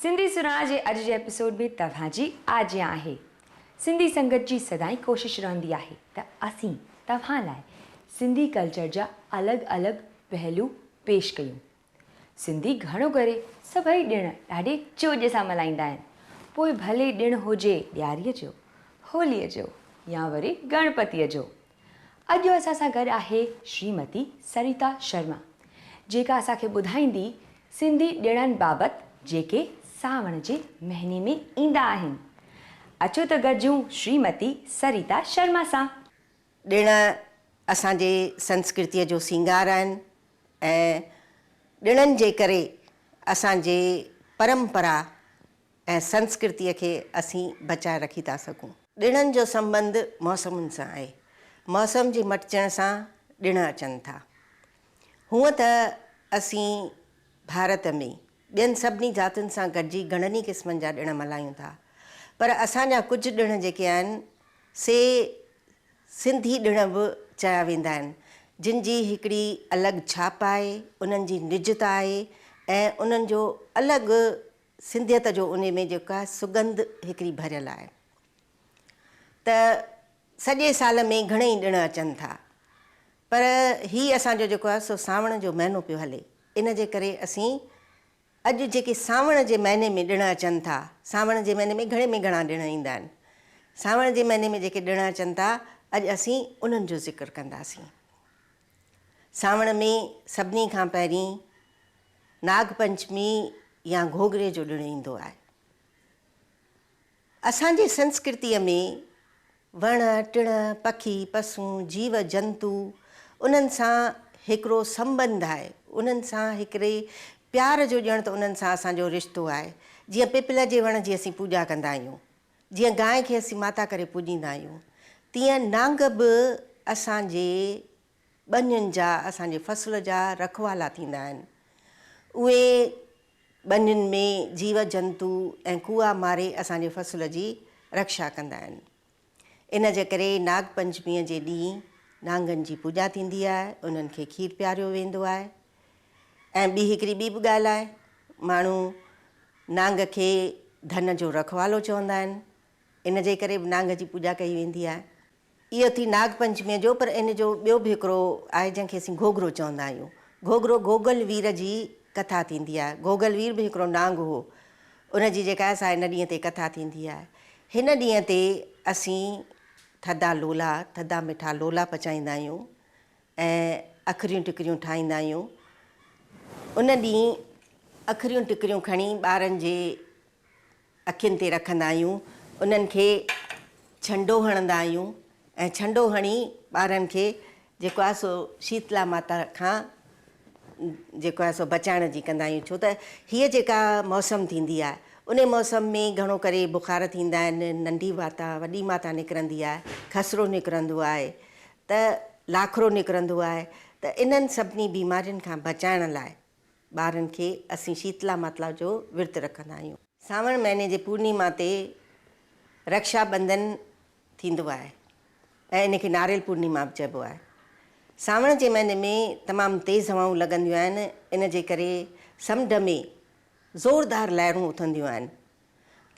سنڌي سرهاڻ جي اڄ جي ايپيسوڊ ۾ توهان جي آجيان آهي. سنڌي سنگت جي سدائين ڪوشش رهندي آهي ته اسين توهان لاء سنڌي ڪلچر جا الڳ الڳ پهلو پيش ڪيون. سنڌي گهڻو ڪري سڀئي ڏڻ ڏاڍي چوڄ سان ملهائيندا آهن پوء ڀلي ڏڻ هجي ڏياري جو، هولي جو يا وري گڻپتي جو. اڄ اسان سان گڏ آهي شريمتي سريتا شرما جيڪا اسان کي ٻڌائيندي سنڌي ڏڻن بابت جيڪي سانوڻ جي مهيني ۾ ايندا آهن اچو ته گڏجون شريمتي سريتا شرما سان. ڏڻ اسان جي سنسڪرتيء جو سينگار آهن ۽ ڏڻن جي ڪري اسان جي پرمپرا ۽ سنسڪرتيء کي اسين بچائي رکي ٿا سگهون. ڏڻن جو سنٻنڌ موسمن سان آهي. موسم جي مٽجڻ سان ڏڻ اچن ٿا. هونء ته اسين ڀارت ۾ ٻين سڀني ذاتين سان گڏجي گهڻن ئي قسمن جا ڏڻ ملهايون ٿا. پر اسان جا ڪجهه ڏڻ جيڪي آهن سي سنڌي ڏڻ به چيا ويندا آهن. جن جي هڪڙي الڳ ڇاپ آهي، انهن جي نجتا آهي ۽ انهن جو الڳ سنڌيت جو انهي ۾ جيڪا سڳنڌ هڪڙي ڀريل آهي ته سڄي سال ۾ گهڻئي ڏڻ اچن ٿا پر هي اسان جو جيڪو آهي سو سانوڻ جو مهينو پيو هلي ان جي ڪري اسين اڄ جيڪي سانوڻ جي مهيني ۾ ڏڻ اچن ٿا سانوڻ جي مهيني ۾ گهڻي ۾ گهڻا ڏڻ ايندا آهن سانوڻ جي مهيني ۾ جيڪي ڏڻ اچن ٿا اڄ اسين انهن جو ذڪر ڪنداسين. سانوڻ ۾ سڀني کان پهرين ناگ پنچمي يا گهوگهري جو ڏڻ ايندو آهي. اسان جي سنسڪرتيء ۾ وڻ، ٽڻ، پکي، پسون، جيو جنتو انهن سان هڪڙو سنٻنڌ آهي، انهن سان هڪڙي پيار جو ڄڻ ته انهن سان اسان جو رشتو آهي، جيئن پپل جي وڻ جي اسين پوڄا ڪندا آهيون. جيئن گانء کي اسين ماتا ڪري پوڄيندا آهيون، تيئن نانگ به اسان جي ٻنين جا، اسان جي فصل جا رکوالا ٿيندا آهن. اهي ٻنين ۾ جيو جنتو ۽ ڪوئا ماري اسان جي فصل جي رڪشا ڪندا آهن. ان جي ڪري ناگ پنچميء جي ڏينهن نانگن جي پوڄا ٿيندي آهي، انهن کي کير پياريو ويندو آهي. ۽ ٻي هڪڙي ٻي به ڳالهه آهي، ماڻهو نانگ کي ڌن جو رکوالو چوندا آهن، ان جي ڪري به نانگ جي پوڄا ڪئي ويندي آهي. اهو ٿي ناگ پنچميء جو پر ان جو ٻيو به هڪڙو آهي جنهن کي اسين گهوگهرو چوندا آهيون. گهوگهرو گوگل وير جي ڪٿا ٿيندي آهي. گهوگل وير به هڪڙو نانگ هو. ان جي جيڪا آهي سا ان ڏينهن تي ڪٿا ٿيندي آهي. هن ڏينهن تي اسين ٿڌا لولا، ٿڌا مٺا لولا پچائيندا آهيون. ۽ اکريون ٽڪريون ٺاهيندا آهيون. ان ڏينهن اکريون ٽڪريون کڻي ٻارن جي اکين تي رکندا آهيون. انهن کي ڇنڊو هڻندا آهيون ۽ ڇنڊو هڻي ٻارن کي جيڪو آهي سو شيتلا ماتا کان جيڪو آهي سو بچائڻ جي ڪندا آهيون. ڇو ته هيء جيڪا موسم ٿيندي آهي انهي موسم ۾ گهڻو ڪري بخار ٿيندا آهن، ننڍي ماتا وڏي ماتا نڪرندي آهي، خسرو نڪرندو آهي. ته لاکرو نڪرندو آهي ته انهن سڀني بيمارين کان بچائڻ لاء ٻارن کي اسين شيتلا ماتلا جو ورت رکندا آهيون. سانوڻ مهيني جي پورنيما تي رڪشا ٻنڌن ٿيندو آهي ۽ ان کي ناريل پورنيما به چئبو آهي. سانوڻ جي مهيني ۾ تمام تيز هوائون لڳنديون آهن ان جي ڪري سمنڊ ۾ زوردار لهرون اٿنديون آهن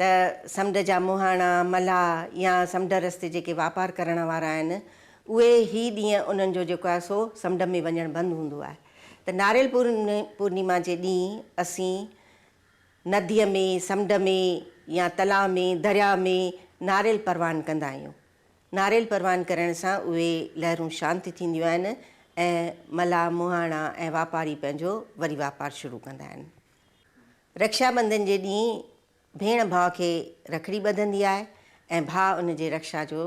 ته سمنڊ جا مهاڻا، ملاح يا سمنڊ رستي جيڪي واپار ڪرڻ وارا آهن، اهي هي ڏينهن انهن جو جيڪو آهي سو سمنڊ ۾ وڃڻ بند هوندو آهي ته ناريل پورنيما جي ڏينهن اسين نديء ۾، سمنڊ ۾ يا تلاء ۾، درياء ۾ ناريل پروان ڪندا آهيون. ناريل پروان ڪرڻ سان اهي لهرون شانت ٿينديون آهن ۽ ملاح، مهاڻا ۽ واپاري پنهنجو وري واپار شروع ڪندا آهن. رڪشا ٻنڌن جي ڏينهن ڀيڻ ڀاء کي رکڙي ٻڌندي آهي ۽ ڀاء ان جي رڪشا جو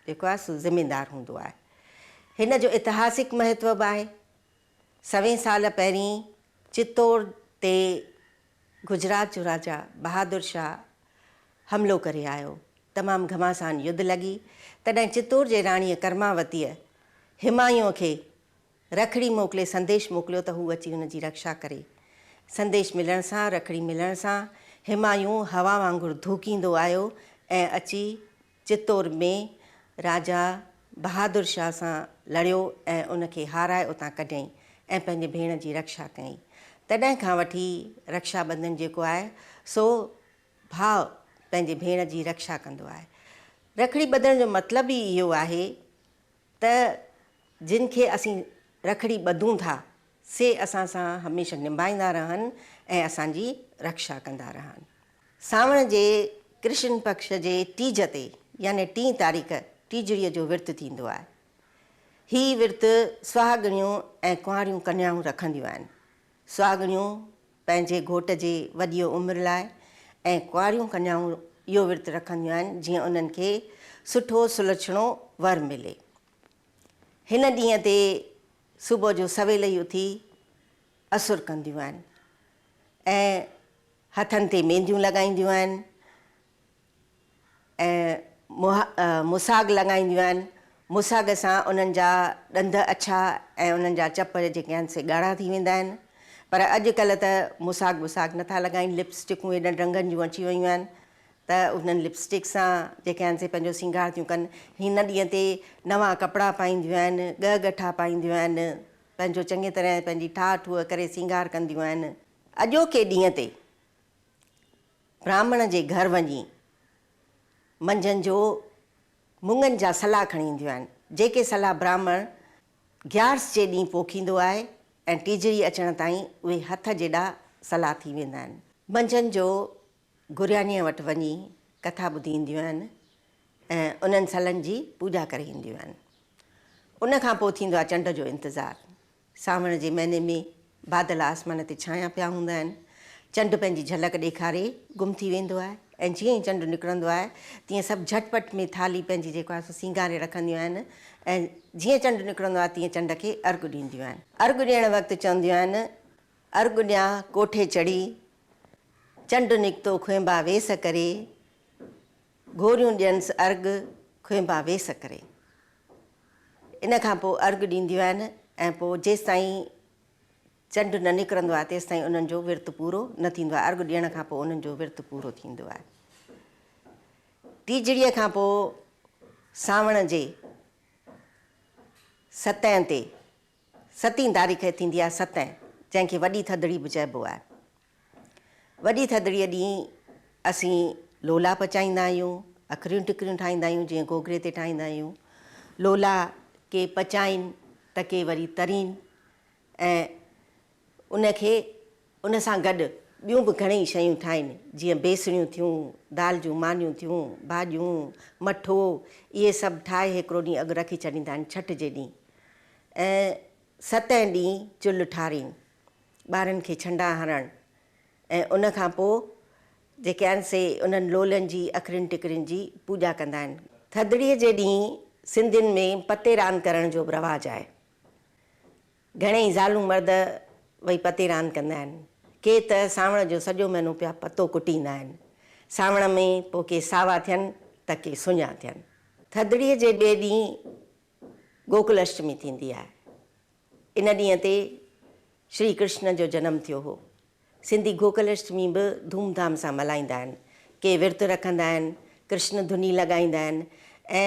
جيڪو آهي سو ذميدار هوندو آهي. هن جو اتهاسڪ مهتو به آهي. سوين سال پهرين چتور تي گجرات جو راجا بهادر شاهه حملو ڪري آيو. تمام گهماسان يڌ لڳي. تڏهن چتور جي راڻيء ڪرماوتيء همايون کي رکڙي موڪلي سنديش موڪليو ته هو اچي هن جي رڪشا ڪري. سنديش ملڻ سان، رکڙي ملڻ سان، همايون هوا وانگر ڌوڪيندو آيو ۽ اچي چتور ۾ راجا بهادر شاهه سان لڙيو ۽ ان کي هارائي اتان ڪڍيائين ۽ پنهنجي ڀيڻ جي رڪشا ڪيائين. تڏهن کان وٺي رڪشا ٻنڌن جيڪو آهي سو ڀاء پنهنجي ڀيڻ جي رڪشا ڪندو آهي. رکڙي ٻڌڻ جو مطلب ئي اهو آهي ته جن کي اسين رکڙي ٻڌون ٿا، سي اسان سان هميشه نڀائيندا رهن ۽ اسان جي رڪشا ڪندا رهن. سانوڻ جي ڪرشن پڪش جي ٽيج تي يعني ٽين تاريخ ٽيجڙيء جو ورت ٿيندو آهي. هي ورت سهاڳڻيون ۽ ڪنواريون ڪنيائون رکنديون آهن. سهاڳڻيون پنهنجي گهوٽ جي وڏيء عمر لاء ۽ ڪنواريون ڪنيائون اهو ورت رکنديون آهن جيئن انهن کي سٺو سلڇڻو ور ملي. هن ڏينهن تي صبح جو سويل ئي اٿي اسر ڪنديون آهن ۽ هٿن تي مينديون لڳائينديون آهن ۽ منهن مساڳ لڳائينديون آهن، مساڳ سان انهن جا ڏند اڇا ۽ انهن جا چپ جيڪي آهن سي ڳاڙها ٿي ويندا آهن، پر اڄڪلهه ته مساڳ وساڳ نٿا لڳائين، لپ اسٽڪون ايڏن رنگن جون اچي ويون آهن ته انهن لپ اسٽڪ سان جيڪي آهن سي پنهنجو سينگار ٿيون ڪن، هن ڏينهن تي نوان ڪپڙا پائينديون آهن، ڳهه ڳٺا پائينديون آهن، پنهنجو چڱي طرح پنهنجي ٺاهه ٺوهه ڪري سينگار ڪنديون آهن، اڄوڪي ڏينهن تي. براهمڻ جي گهر وڃي منجهند جو مڱن جا سلا کڻي اينديون آهن، جيڪي سلا براهمڻ گيارس جي ڏينهن پوکيندو آهي ۽ ٽيجڙي اچڻ تائين اهي هٿ جيڏا سلا ٿي ويندا آهن. منجهند جو گريانيء وٽ وڃي ڪٿا ٻڌي اينديون آهن ۽ انهن سلن جي پوڄا ڪري اينديون آهن. ان کان پوء ٿيندو آهي چنڊ جو انتظار. سانوڻ جي مهيني ۾ بادل آسمان تي ڇانيا پيا هوندا آهن، چنڊ پنهنجي جهلڪ ڏيکاري گم ٿي ويندو آهي ۽ جيئن ئي چنڊ نڪرندو آهي تيئن سڀ جهٽ پٽ ۾ ٿالهي پنهنجي جيڪو آهي سو سينگاري رکنديون آهن ۽ جيئن چنڊ نڪرندو آهي تيئن چنڊ کي ارغ ڏينديون آهن. ارغ ڏيڻ وقت چونديون آهن، ارغ ڏيان ڪوٺي چڙهي، چنڊ نڪتو کهنبا ويس ڪري، گهوريون ڏينس ارغ کهنبا ويس ڪري. ان کان پوء ارغ ڏينديون آهن ۽ پوء جيستائين چنڊ نه نڪرندو آهي تيستائين انهن جو ورت پورو نه ٿيندو آهي. ارغ ڏيڻ کان پوء انهن جو ورت پورو ٿيندو آهي. ٽيجڙيء کان پوء سانوڻ جي ستين تي، ستين تاريخ ٿيندي آهي ستين، جنهن کي وڏي ٿڌڙي به چئبو آهي. وڏي ٿڌڙيء ڏينهن اسين لولا پچائيندا آهيون، اکريون ٽڪريون ٺاهيندا آهيون، جيئن گوگري تي ٺاهيندا آهيون. لولا ڪي پچائين ته ڪي وري ترين ۽ ان کي ان سان گڏ ٻيون به گهڻيئي شيون ٺاهين، جيئن بيسڻيون ٿيون، دال جون مانيون ٿيون، ڀاڄيون، مٺو، اهي سڀ ٺاهي هڪڙو ڏينهن اڳ رکي ڇڏيندا آهن ڇٺ جي ڏينهن ۽ ستين ڏينهن چلهه ٺارين ٻارن کي ڇنڊا هڻڻ ۽ ان کان پوء جيڪي آهن سي انهن لولين جي اکرين ٽڪرين جي پوڄا ڪندا آهن. ٿڌڙيء جي ڏينهن سنڌين ۾ پتي راند ڪرڻ جو به رواج آهي. گهڻيئي زالون مرد وئي پتي راند ڪندا آهن. ڪي ته سانوڻ جو سڄو مهينو پيا پتو ڪٽيندا آهن. سانوڻ ۾ پوء ڪي ساوا ٿين ته ڪي سڃا ٿين. ٿڌڙيء جي ٻئي ڏينهن گوڪل اشٽمي ٿيندي آهي. ان ڏينهن تي شري ڪرشن جو جنم ٿيو هو. سنڌي گوڪل اشٽمي به ڌوم ڌام سان ملهائيندا آهن. ڪي ورت رکندا آهن، ڪرشن ڌني لڳائيندا آهن ۽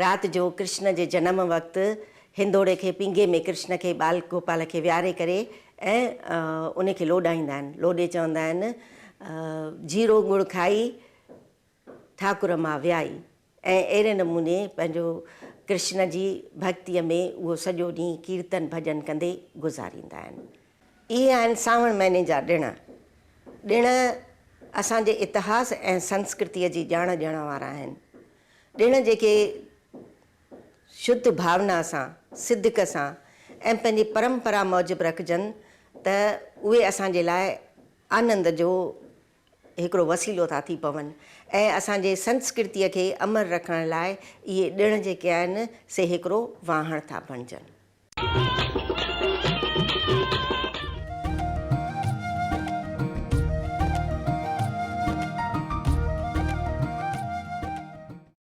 رات جو ڪرشن جي جنم وقت هندوڙي کي پينگهي ۾ ڪرشن کي ٻال گوپال کي ويهاري ڪري ۽ ان کي لوڏائيندا آهن. لوڏي چوندا آهن، جيرو ڳڙ کائي، ٺاڪر مان ويائي. ۽ اهڙي نموني پنهنجو ڪرشن جي ڀڳتيء ۾ اهو سڄو ڏينهن ڪيرتن ڀڄن ڪندي گذاريندا آهن. اهي آهن سانوڻ مهيني جا ڏڻ. ڏڻ اسان جي اتهاس ۽ سنسڪرتيء جي ڄاڻ ڏيڻ وارا آهن. ڏڻ جيڪي شڌ ڀاونا سان، صدق سان ۽ پنهنجي پرمپرا موجب رکجن ته اهي اسان جي لاء آنند جو هڪڙو وسيلو ٿا ٿي پون ۽ اسان جي سنسڪرتيء کي امر رکڻ لاء اهي ڏڻ جيڪي آهن سي هڪڙو واهڻ ٿا بڻجن.